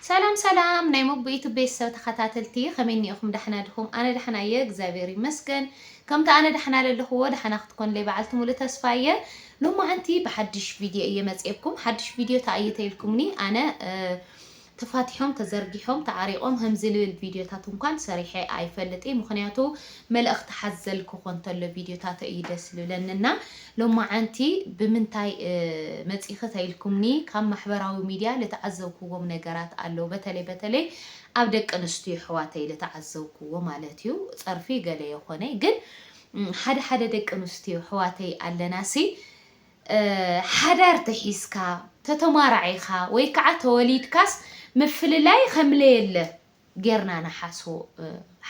ሰላም ሰላም ናይ ሞቦ ዩቱብ ቤተሰብ ተከታተልቲ ከመይ እኒኤኩም ዳሕና ድኩም ኣነ ዳሕና እየ እግዚኣብሔር ይመስገን ከምቲ ኣነ ዳሕና ለለክዎ ዳሕና ክትኮንለይ ባዓልቲ ሙሉእ ተስፋ እየ ሎማዓንቲ ብሓድሽ ቪድዮ እየ መፅኤኩም ሓድሽ ቪድዮ ታይ እየ ተይልኩምኒ ኣነ ተፋቲሖም ተዘርጊሖም ተዓሪቆም ከምዚ ልብል ቪድዮታት እንኳን ሰሪሐ ኣይፈልጥ እየ ምክንያቱ መልእኽቲ ሓዘል ክኾን ተሎ ቪድዮታቶ እዩ ደስ ልብለኒ እና ሎማዓንቲ ብምንታይ መፂኺ ተይልኩምኒ ካብ ማሕበራዊ ሚድያ ልተዓዘብኩዎም ነገራት ኣለው በተለይ በተለይ ኣብ ደቂ ኣንስትዮ ኣሕዋተይ ልተዓዘብኩዎ ማለት እዩ ፀርፊ ገለ የኾነይ ግን ሓደ ሓደ ደቂ ኣንስትዮ ኣሕዋተይ ኣለና ሲ ሓዳር ተሒዝካ ተተማራዒኻ ወይ ከዓ ተወሊድካስ ምፍልላይ ከምለየለ ጌርና ንሓስቦ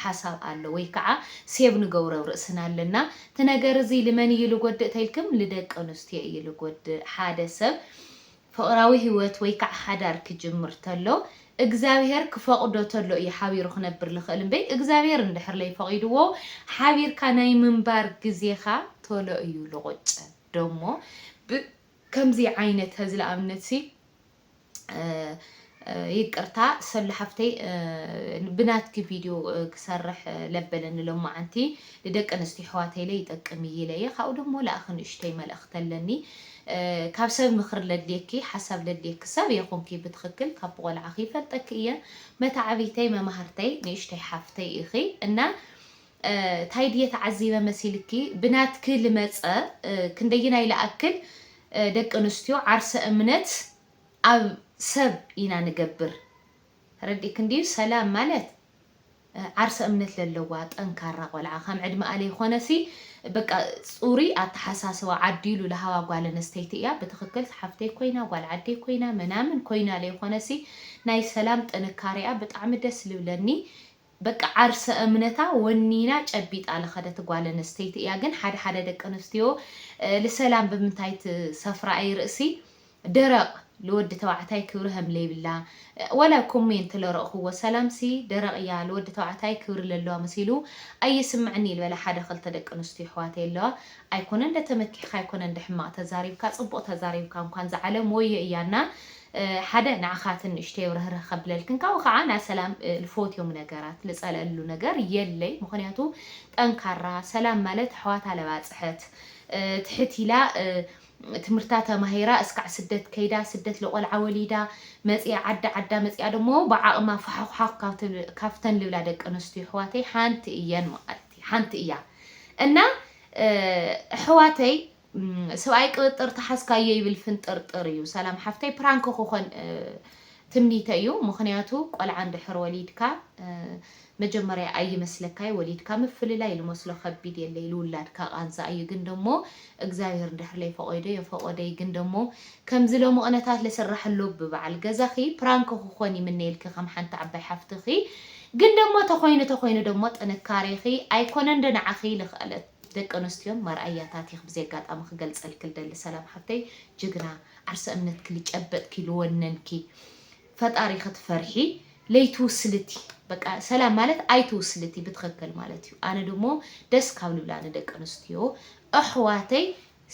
ሓሳብ ኣሎ ወይ ክዓ ሴብ ንገብሮ ኣብ ርእስና ኣለና እቲ ነገር እዚ ልመን እዩ ልጎድእ ተልክም ልደቂ ኣንስትዮ እዩ ልጎድእ ሓደ ሰብ ፍቅራዊ ሂወት ወይ ክዓ ሓዳር ክጅምር ተሎ እግዛብሄር ክፈቅዶ ተሎ እዩ ሓቢሩ ክነብር ልክእል እምበይ እግዛብሄር እንድሕር ለይፈቂድዎ ሓቢርካ ናይ ምንባር ግዜካ ቶሎ እዩ ልቁጨ ዶሞ ብ ከምዚ ዓይነት ሀዚ ልኣብነት ሲ ይቅርታ ሰሉ ሓፍተይ ብናትኪ ቪድዮ ክሰርሕ ለበለኒ ሎማዓንቲ ንደቂ ኣንስትዮ ኣሕዋተይ ኢለ ይጠቅም እዩ ኢለ እየ ካብኡ ደሞ ለኣኺ ንእሽተይ መልእኽቲ ኣለኒ ካብ ሰብ ምኽሪ ለድልየኪ ሓሳብ ለድልየኪ ሰብ እየ ኮንኪ ብትኽክል ካብ ብቆልዓኺ ይፈልጠኪ እየ መታዕቢተይ መማህርተይ ንእሽተይ ሓፍተይ ኢኺ እና ታይ ድየ ተዓዚበ መሲልኪ ብናትኪ ልመፀ ክንደየናይ ልኣክል ደቂ ኣንስትዮ ዓርሰ እምነት ኣብ ሰብ ኢና ንገብር ተረዲእክን ድዩ ሰላም ማለት ዓርሰ እምነት ለለዋ ጠንካራ ቆልዓ ከም ዕድመኣ ለይኮነሲ በቃ ፁሩይ ኣተሓሳስባ ዓዲሉ ልሃባ ጓል ኣነስተይቲ እያ ብትክክል ሓፍተይ ኮይና ጓል ዓደይ ኮይና መናምን ኮይና ለይኮነሲ ናይ ሰላም ጥንካሬኣ ብጣዕሚ ደስ ልብለኒ በቃ ዓርሰ እምነታ ወኒና ጨቢጣ ልኸደት ጓል ኣንስተይቲ እያ ግን ሓደ ሓደ ደቂ ኣንስትዮ ልሰላም ብምንታይ ትሰፍራ እይ ርእሲ ደረቅ ልወዲ ተባዕታይ ክብሪ ሀምለይብላ ዋላ ኮሜንት ለረእኹዎ ሰላም ሲ ደረቅ እያ ልወዲ ተባዕታይ ክብሪ ለለዋ መሲሉ ኣይስምዕኒ ልበላ ሓደ ክልተ ደቂ ኣንስትዮ ኣሕዋተይ ኣለዋ ኣይኮነን ደተመኪሕኻ ኣይኮነን ደሕማቅ ተዛሪብካ ጽቡቅ ተዛሪብካ እንኳን ዝዓለም ወዮ እያና ሓደ ንዓኻ እቲ ንእሽተይ ውርህርህ ከብለልክን ካብኡ ካዓ ናይ ሰላም ልፎትዮም ነገራት ልፀለኣሉ ነገር የለይ ምኽንያቱ ጠንካራ ሰላም ማለት ኣሕዋታ ለባፅሐት ትሕት ኢላ ትምህርታ ተማሂራ እስካዕ ስደት ከይዳ ስደት ልቆልዓ ወሊዳ መፂኣ ዓዲ ዓዳ መፂኣ ደሞ ብዓቅማ ፋሕዃኽ ካብተን ልብላ ደቂ ኣነስትዮ ኣሕዋተይ ሓንቲ እየን ማለትይ ሓንቲ እያ እና ኣሕዋተይ ስብኣይ ቅብጥር ተሓዝካዮ ይብል ፍንጥርጥር እዩ ሰላም ሓፍተይ ፕራንክ ክኾን ትምኒተይ እዩ ምኽንያቱ ቆልዓ እንድሕር ወሊድካ መጀመርያ ኣይመስለካይ ወሊድካ ምፍልላይ ልመስሎ ከቢድ የለይ ልውላድካ ቃንዛ እዩ ግን ደሞ እግዚኣብሔር እንድሕር ለይፈቆይዶ የፈቆደይ ግን ደሞ ከምዚ ሎሚ ቅነታት ለስራሕሎ ብበዓል ገዛኺ ፕራንክ ክኾን ይምነየልኪ ከም ሓንቲ ዓባይ ሓፍትኺ ግን ደሞ ተኾይኑ ተኾይኑ ደሞ ጥንካሬኺ ኣይኮነንዶ ንዓኺ ልኽእለት ደቂ ኣነስትዮ ማርኣያታት ኢኪ ብዚ ኣጋጣሚ ክገልጸልኪ ልደሊ ሰላም ሓፍተይ ጅግና ዓርሰ እምነትኪ ልጨበጥኪ ልወነንኪ ፈጣሪ ክትፈርሒ ለይትውስልቲ በቃ ሰላም ማለት ኣይትውስልቲ ብትክክል ማለት እዩ ኣነ ድሞ ደስ ካብ ልብላኒ ደቂ ኣነስትዮ ኣሕዋተይ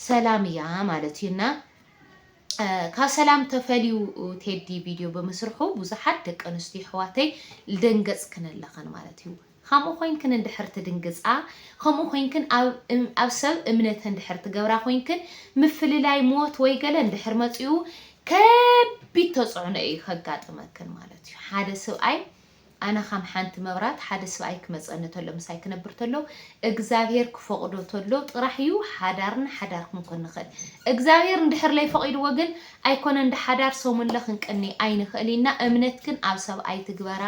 ሰላም እያ ማለት እዩ እና ካብ ሰላም ተፈልዩ ቴዲ ቪድዮ ብምስርሑ ብዙሓት ደቂ ኣንስትዮ ኣሕዋተይ ልደንገጽክን ኣለኽን ማለት እዩ ኸምኡ ኾይንክን እንድሕር ትድንግጻ፣ ኸምኡ ኾይንክን ኣብ ኣብ ሰብ እምነት እንድሕር ትገብራ ኾይንክን፣ ምፍልላይ፣ ሞት ወይ ገለ እንድሕር መጺኡ ከቢድ ተጽዕኖ እዩ ኸጋጥመክን ማለት እዩ። ሓደ ስብኣይ ኣነ ኸም ሓንቲ መብራት ሓደ ስብኣይ ክመጸኒ ተሎ ምሳይ ክነብር ተሎ እግዝኣብሄር ክፈቕዶ ተሎ ጥራሕ እዩ ሓዳርና ሓዳር ክንኮን ንኽእል። እግዝኣብሄር እንድሕር ለይፈቒድዎ ግን ኣይኮነን ድሓዳር ሰሙንለ ክንቅኒ ኣይንክእል ኢና እምነትክን ኣብ ሰብ ኣይትግበራ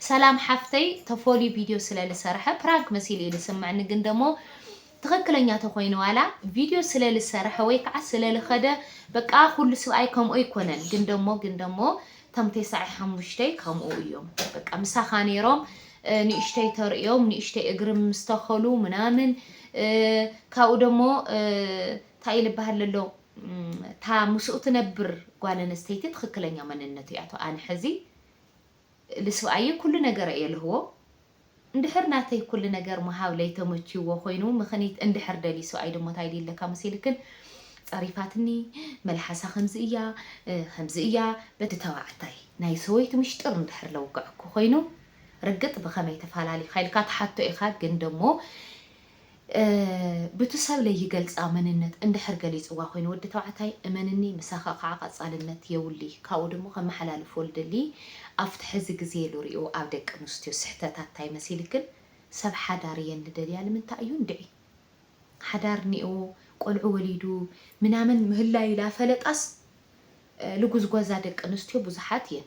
ሰላም ሓፍተይ ተፎልዩ ቪድዮ ስለ ልሰረሐ ፕራንክ መሲሉ እዩ ልስመዕኒ ግን ደሞ ትክክለኛ ተኮይኑ ዋላ ቪድዮ ስለ ልሰረሐ ወይ ከዓ ስለ ልከደ በቃ ኩሉ ስብኣይ ከምኡ ኣይኮነን ግን ደሞ ግን ደሞ ተም ቴሳዐ ሓሙሽተይ ከምኡ እዮም በቃ ምሳካ ነይሮም ንእሽተይ ተርእዮም ንእሽተይ እግሪ ምስተከሉ ምናምን ካብኡ ደሞ ታይ ልበሃል ለሎ እታ ምስኡ ትነብር ጓል ኣንስተይቲ ትኽክለኛ መንነቱ እያቶ ኣነ ሕዚ ልስብኣየይ ኩሉ ነገረ እየ ልህቦ እንድሕር ናተይ ኩሉ ነገር ምሃብ ለይተመችይዎ ኮይኑ ምኽኒት እንድሕር ደልዩ ስብኣይ ድሞ ታይ ድይለካ መሲልክን ፀሪፋትኒ መልሓሳ ከምዚ እያ ከምዚ እያ በዲ ተባዕታይ ናይ ሰበይቱ ምሽጥር እንድሕር ለውገዐኩ ኮይኑ ርግጥ ብኸመይ ተፋላሊኻ ኢልካ ትሓቶ ኢኻ ግን ደሞ ብቱ ሰብ ለይገልጻ መንነት እንድሕር ገሊጽዋ ኮይኑ ወዲ ተባዕታይ እመንኒ ምሳካ ካዓ ቀጻልነት የውልይ ካብኡ ድሞ ከመሓላልፎ ልደሊ ኣፍቲ ሐዚ ግዜ ልሪኦ ኣብ ደቂ ኣንስትዮ ስሕተት ኣታይ መሲልክን ሰብ ሓዳር እየን ልደልያ ልምንታይ እዩ እንድዒ ሓዳር ኒኦ ቆልዑ ወሊዱ ምናምን ምህላዩ ላፈለጣስ ልጉዝጓዛ ደቂ ኣንስትዮ ብዙሓት እየን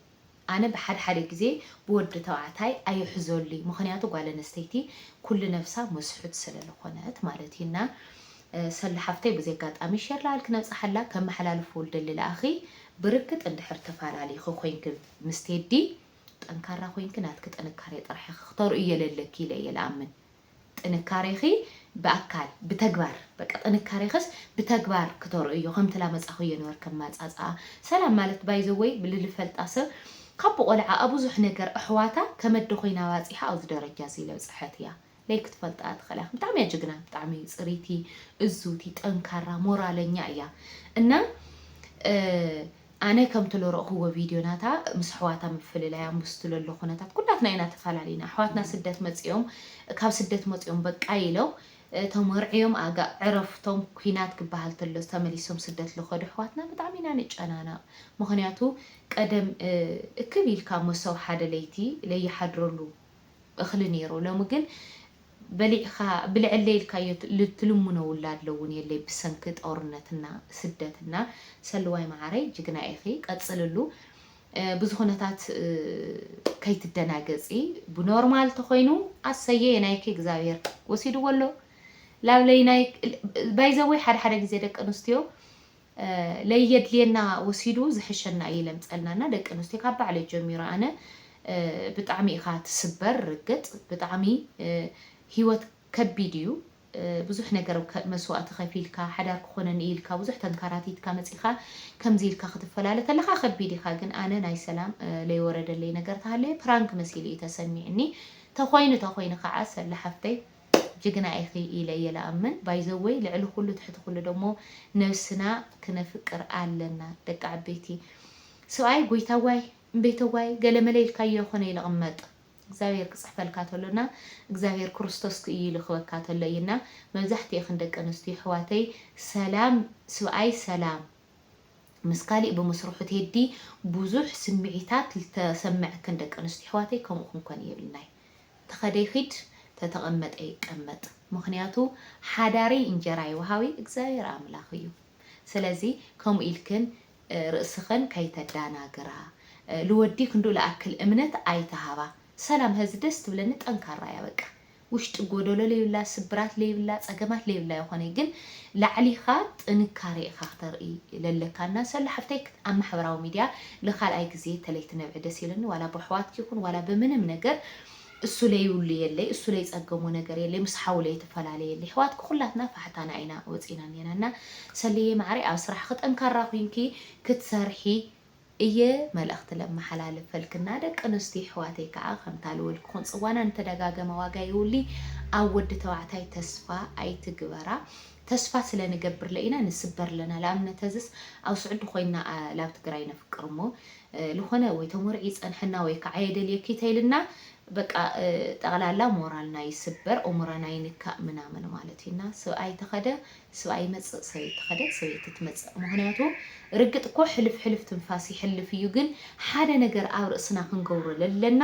ኣነ ብሓደ ሓደ ግዜ ብወዲ ተባዕታይ ኣይሕዞሉይ ምክንያቱ ጓል ኣነስተይቲ ኩሉ ነብሳ መስሑት ሰለለኮነት ማለት እዩ እና ሰሉ ሓፍተይ በዚ ኣጋጣሚ ሸር ላኣልክ ነብጻሓላ ከመሓላልፉ ልደሊ ላኣኺ ብርግጥ እንድሕር ተፋላሊኪ ኮይንኪ ምስ ቴዲ ጠንካራ ኮይንኪ ናትኪ ጥንካሬ ጥራሕ ኢኪ ክተርእዮ ለለኪ ኢለ እየ ላኣምን ጥንካሬኺ ብኣካል ብተግባር በቃ ጥንካሬኽስ ብተግባር ክተርእዮ ከምቲ ላመጻኹዮ ነበርክ ኣማጻጽኣ ሰላም ማለት ባይ ዘ ወይ ልልፈልጣ ሰብ ካብ ብቆልዓኣ ብዙሕ ነገር ኣሕዋታ ከመደ ኮይና ባጺሓ ኣብዚ ደረጃ እዚ ለብጸሐት እያ ለይ ክትፈልጣ ትኽእላ ኢኽም ብጣዕሚ እያ ጅግና ብጣዕሚ ጽሪቲ እዙቲ ጠንካራ ሞራለኛ እያ እና ኣነ ከምቲ ለረእክዎ ቪድዮ ናታ ምስ ኣሕዋታ ምፍልላያ ምስቱ ለሎ ኩነታት ኩላትና ኢና ተፋላሊና ኣሕዋትና ስደት መጺኦም ካብ ስደት መጺኦም በቃ ኢሎም ተመርዕዮም ኣጋ ዕረፍቶም ኩናት ክባሃል ተሎ ተመሊሶም ስደት ልከዱ ኣሕዋትና ብጣዕሚ ኢና ንጨናነቅ ምክንያቱ ቀደም እክብ ኢልካ መሰው ሓደ ለይቲ ለይሓድረሉ እኽሊ ነይሩ ሎሚ ግን በሊዕኻ ብልዐለይ ኢልካዮ ትልሙኖ ውላድለ እውን የለይ ብሰንኪ ጦርነት እና ስደት እና ሰሉዋይ መዓረይ ጅግና ኢኺ ቀፅልሉ ብዙኹነታት ከይትደናገፂ ብኖርማል ተኾይኑ ኣሰየ የናይኪ እግዚኣብሔር ወሲድዎ ኣሎ ላብለይ ናይ ባይዘወይ ሓደ ሓደ ግዜ ደቂ ኣንስትዮ ለይየድልየና ወሲዱ ዝሕሸና እዪ ለምፀልና እና ደቂ ኣንስትዮ ካብ ባዕለይ ጀሚረ ኣነ ብጣዕሚ ኢካ ትስበር ርግፅ ብጣዕሚ ሂወት ከቢድ እዩ ብዙሕ ነገር መስዋእቲ ከፊልካ ሓዳር ክኮነኒ እዩ ኢልካ ብዙሕ ተንካራቲትካ መፂካ ከምዚ ኢልካ ክትፈላለ ተለካ ከቢድ ኢካ ግን ኣነ ናይ ሰላም ለይወረደለይ ነገር ተሃለየ ፕራንክ መሲሉ እዩ ተሰሚዕኒ ተኮይኑ ተኮይኑ ካዓ ሰላ ሓፍተይ ጅግና ኢኺ ኢለ እየ ልኣምን ባይዘወይ ልዕሊ ኩሉ ትሕቲ ኩሉ ደሞ ነብስና ክነፍቅር ኣለና ደቂ ዓበይቲ ሰብኣይ ጎይታዋይ እምበይተዋይ ገለመለ ኢልካዮ ኣይኮነይ ልቅመጥ እግዚኣብሔር ክፅሕፈልካ ተሎ እና እግዚኣብሔር ክርስቶስ ክእዩ ልክበካ ተሎ እዩ እና መብዛሕቲኤኽን ደቂ ኣንስትዮ ኣሕዋተይ ሰላም ስብኣይ ሰላም ምስ ካሊእ ብምስርሑ ቴዲ ብዙሕ ስምዒታት ልተሰመዐክን ደቂ ኣንስትዮ ኣሕዋተይ ከምኡ ክንኮን የብልናይ። ተኸደ ይኺድ ተተቐመጠ ይቀመጥ ምኽንያቱ ሓዳሪ እንጀራ ይውሃቢ እግዚኣብሔር ኣምላኽ እዩ ስለዚ ከምኡ ኢልክን ርእስኽን ከይተዳናግራ ልወዲ ክንዱ ልኣክል እምነት ኣይትሃባ ሰላም ሀዚ ደስ ትብለኒ ጠንካራ እያ በቃ ውሽጢ ጎደሎ ለይብላ ስብራት ለይብላ ፀገማት ለይብላ ይኾነ ግን ላዕሊኻ ጥንካሬ ኢኻ ክተርኢ ለለካ እና ሰሉ ሓፍተይ ኣብ ማሕበራዊ ሚድያ ንካልኣይ ግዜ ተለይ ትነብዒ ደስ ኢሉኒ ዋላ በሕዋትኪ ይኩን ዋላ ብምንም ነገር እሱ ለይብሉ የለይ እሱ ለይጸገሞ ነገር የለይ ምስ ሓው ለይትፈላለ የለይ ሕዋትኪ ኩላትና ፋሕታና ኢና ወጺና እኔና እና ሰልየይ ማዓረይ ኣብ ስራሕኪ ጠንካራ ኩንኪ ክትሰርሒ እየ መልእክቲ ለማሓላልፈልኪ እና ደቂ ኣንስትዮ ይሕዋተይ ካዓ ከምታ ልወል ክኩን ጽዋና ንተደጋገመ ዋጋ የውልይ ኣብ ወዲ ተባዕታይ ተስፋ ኣይትግበራ ተስፋ ስለ ንገብርለ ኢና ንስበር ኣለና ልኣብነት ሀዝስ ኣብ ሱዕዲ ኮይና ላብ ትግራይ ነፍቅር እሞ ልኮነ ወይ ተሞርዒ ይፀንሐና ወይ ካዓ የደልየኪ ተይልና በቃ ጠቅላላ ሞራልና ይስበር ኡሙረና ይንካእ ምናምን ማለት እዩ እና ስብኣይ ተከደ ስብኣይ ይመፅእ ሰበይቲ ተከደት ሰበይቲ ትመፅእ ምክንያቱ ርግጥ እኮ ሕልፍ ሕልፍ ትንፋስ ይሕልፍ እዩ ግን ሓደ ነገር ኣብ ርእስና ክንገብሮ ለለና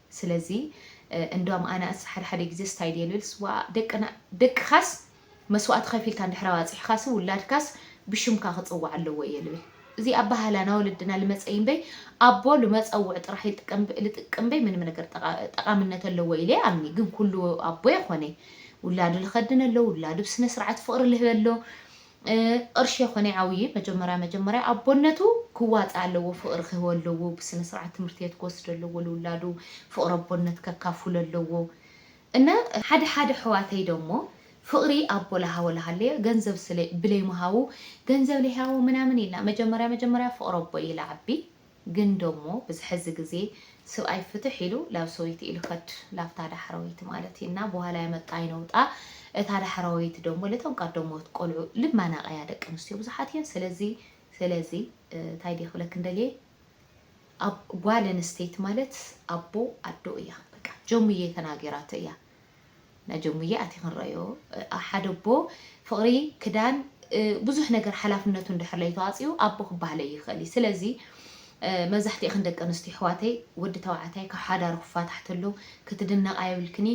ስለዚ እንዶም ኣናእስ ሓደ ሓደ ግዜ ስታይ ድየ ልብል ስዋእ ደቅና ደቅኻስ መስዋእቲ ከፊልካ እንድሕር ኣባጺሕኻሲ ውላድካስ ብሽምካ ክጽዋዕ ኣለዎ እየ ልብል እዚ ኣባሃህላ ናይ ወለድና ልመጸ እይምበይ ኣቦ ልመጸውዕ ጥራሕ ልጥቀም ልጥቅም እምበይ ምንም ነገር ጠቃምነት ኣለዎ ኢለ ኣምኒ ግን ኩሉ ኣቦ የኮነይ ውላዱ ልከድነሎ ውላዱ ብስነስርዓት ፍቅሪ ልህበሎ ቕርሺ የኮነ ይዓውዪ መጀመርያ መጀመርያ ኣቦነቱ ክዋፃእ ኣለዎ ፍቅሪ ክህቦ ኣለዎ ብስነስርዓት ትምህርቲ ቤት ክወስዶ ኣለዎ ልውላዱ ፍቅሪ ኣቦነት ከካፉሎ ኣለዎ እና ሓደ ሓደ ኣሕዋተይ ደሞ ፍቅሪ ኣቦ ላሃወ ላሃለዮ ገንዘብ ብለይ ምሃቡ ገንዘብ ለይሃቦ ምናምን ኢልና መጀመርያ መጀመርያ ፍቅሪ ኣቦ እዩ ላዓቢ ግን ዶሞ ብዝ ሐዚ ግዜ ስብኣይ ፍትሕ ኢሉ ላብ ሰበይቱ ኢሉ ከድ ላብታ ዳሕረወይቲ ማለት እዩ እና በኋላ ያመጣኝ ነውጣ እታ ዳሕረወይቲ ዶሞ ለቶም ቀደሞት ቆልዑ ልብ ማናቀያ ደቂ ኣንስትዮ ብዙሓት እየን ስለዚ ስለዚ ታይ ድየ ክብለክን ደልየ ኣብ ጓል ኣንስተይቲ ማለት ኣቦ ኣዶ እያ በቃ ጀሙየ ተናጊራቶ እያ ናጀሙየ ኣቲ ክንረዮ ሓደ ኣቦ ፍቅሪ ክዳን ብዙሕ ነገር ሓላፍነቱ እንድሕር ለይተዋጺኡ ኣቦ ክባሃል ለይክእል እዩ ስለዚ መብዛሕቲኤክን ደቂ ኣንስትዮ ኣሕዋተይ ወዲ ተባዕታይ ካብ ሓዳሩ ክፋታሕ ተሎ ክትድነቃ የብልክኒ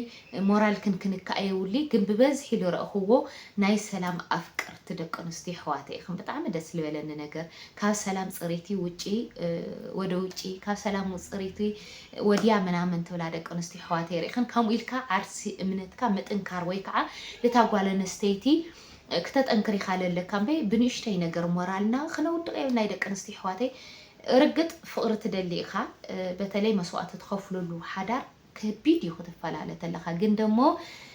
ሞራልክን ክንካእ የውሊ ግን ብበዝሒ ልረእክዎ ናይ ሰላም ኣፍቅርቲ ደቂ ኣንስትዮ ኣሕዋተይ ኢክን ብጣዕሚ ደስ ልበለኒ ነገር ካብ ሰላም ጽሪቲ ውጪ ወደ ውጪ ካብ ሰላም ጽሪቲ ወድያ ምናምን ትብላ ደቂ ኣንስትዮ ኣሕዋተይ ሪእክን ከምኡ ኢልካ ዓርሲ እምነትካ ምጥንካር ወይ ከዓ ልታ ጓል ኣንስተይቲ ክተጠንክር ኢካ ለለካ እምበይ ብንእሽተይ ነገር ሞራልና ክነውድቅ የብልናይ ደቂ ኣንስትዮ ኣሕዋተይ ርግጥ ፍቅሪ ትደሊ ኢካ በተለይ መስዋእቲ ትከፍለሉ ሓዳር ከቢድ እዩ ክትፈላለ ተለካ ግን ደሞ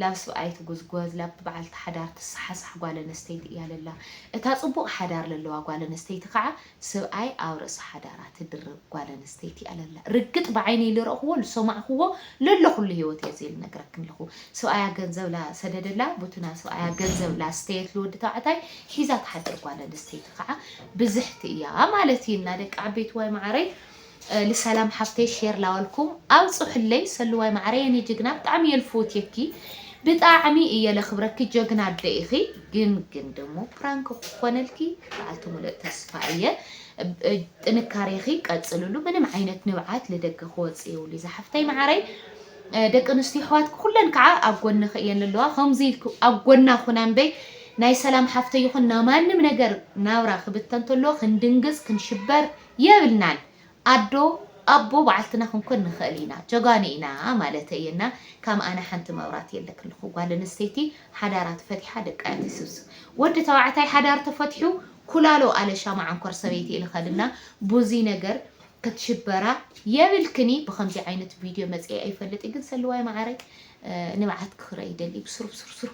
ላብ ስብኣይ ትጉዝጎዝ ላብ በዓልቲ ሓዳር ትሳሓሳሕ ጓል ኣነስተይቲ እያ ለላ እታ ፅቡቅ ሓዳር ለለዋ ጓል ኣነስተይቲ ካዓ ስብኣይ ኣብ ርእሲ ሓዳራ ትድርብ ጓል ኣነስተይቲ እያ ለላ ርግጥ ብዓይነይ ልረእክዎ ልሰማዕክዎ ለለኩ ልሂወት እየ እዚ ልነግረክን ለኩ ስብኣያ ገንዘብ ላሰደደላ ቡቱና ስብኣያ ገንዘብ ላስተየት ልወዲ ተባዕታይ ሒዛ ትሓድር ጓል ኣነስተይቲ ካዓ ብዝሕቲ እያ ማለት እይና ደቂ ዓበይትዋይ ማዓረይ ልሰላም ሓፍተይ ሼር ላበልኩም ኣብፁሑለይ ሰሉዋይ ማዓረይ የኔ ጅግና ብጣዕሚ እየ ልፍውትየኪ ብጣዕሚ እየ ለክብረኪ ጀግና ኣደ ኢኪ ግን ግን ደሞ ፕራንክ ክኮነልኪ ባዓልቲ ሙለእ ተስፋ እየ ጥንካሬኪ ቀፅልሉ ምንም ዓይነት ንብዓት ልደገ ክወፅእ የብሉይ ዛሓፍተይ ማዓረይ ደቂ ኣንስትዮ ኣሕዋትኪ ኩለን ከዓ ኣብ ጎንኺ እየን ዘለዋ ከምዚ ኢልኪ ኣብ ጎና ኩና እምበይ ናይ ሰላም ሓፍተይ ይኹን ናይ ማንም ነገር ናብራ ክብተን ተሎ ክንድንግፅ ክንሽበር የብልናን ኣዶ ኣቦ ባዓልትና ክንኮን ንክእል ኢና ጀጋኑ ኢና ማለተይ እየ እና ካም ኣነ ሓንቲ መብራት የለክልኩ ጋል ኣንስተይቲ ሓዳራ ተፈቲሓ ደቃ እያ ትስብስብ ወዲ ተባዕታይ ሓዳር ተፈትሑ ኩላሎ ኣለሻ ማዓንኮር ሰበይቲ ኢልከን እና ቡዙይ ነገር ክትሽበራ የብልክኒ ብከምዚ ዓይነት ቢድዮ መፅኤ ኣይፈልጥ ግን ሰሉዋይ ማዓረይ ንብዓት ክክረእ ይደሊ ብስሩብ ሱር ሱር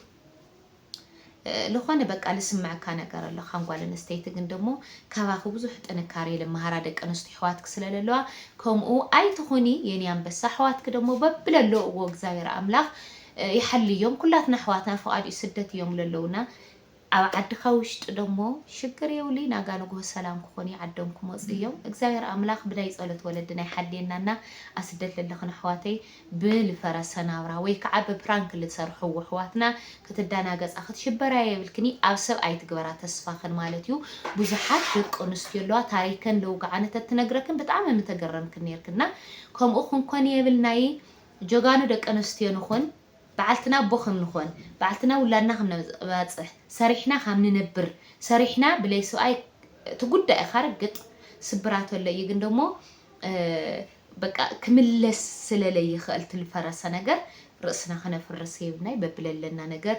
ልኾነ በቃ ልስመዐካ ነገር ኣሎ ካም ጓል ኣነስተይቲ ግን ደሞ ካባኺ ብዙሕ ጥንካሬ ልመሃራ ደቂ ኣነስትዮ ኣሕዋትኪ ስለለለዋ ከምኡ ኣይትኹኒ የኔ ኣንበሳ ኣሕዋትኪ ደሞ በብለለውዎ እግዚኣብሔር ኣምላኽ ይሓልዮም ኩላትና ኣሕዋትና ፍቓድ እዩ ስደት እዮም ለለውና ኣብ ዓድኻ ውሽጢ ደሞ ሽግር የውሊ ናጋ ንጉሆ ሰላም ክኾኑ ይዓዶም ክመፁ እዮም እግዚኣብሔር ኣምላኽ ብናይ ፀሎት ወለድና ይሓልየናና ኣስደት ለለኽን ኣሕዋተይ ብልፈረሰ ናብራ ወይ ክዓ ብፕራንክ ልትሰርሕዎ ኣሕዋትና ክትዳናገፃ ክትሽበራ የብልክኒ ኣብ ሰብ ኣይትግበራ ተስፋክን ማለት እዩ ብዙሓት ደቂ ኣንስትዮ ኣለዋ ታሪከን ለውግዓን እተትነግረክን ብጣዕሚ ምተገረምክን ነይርክን እና ከምኡ ክንኮን የብልናይ ጀጋኑ ደቂ ኣንስትዮ ንኩን በዓልትና ኣቦ ከም ንኮን በዓልትና ውላድና ከም ነባፅሕ ሰሪሕና ካም ንነብር ሰሪሕና ብለይ ስብኣይ ትጉዳእ ኢካ ርግጥ ስብራት ኣሎ እዩ ግን ደሞ በቃ ክምለስ ስለ ለይኸእል ትልፈረሰ ነገር ርእስና ክነፍርስ የብልናይ በብለለና ነገር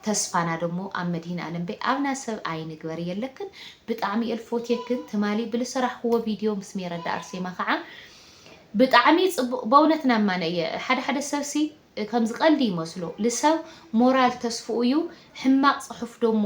ተስፋና ደሞ ኣብ መድሂን ኣለም በይ ኣብና ሰብ ኣይንግበር የለክን ብጣዕሚ እየ ልፎትየክን ትማሊ ብልሰራሕክዎ ቪድዮ ምስ ሜረዳ ኣርሴማ ከዓ ብጣዕሚ ጽቡቅ በእውነት ናማነ እየ ሓደ ሓደ ሰብሲ ከምዚ ቀልዲ ይመስሎ ልሰብ ሞራል ተስፍኡ እዩ ሕማቅ ጽሑፍ ደሞ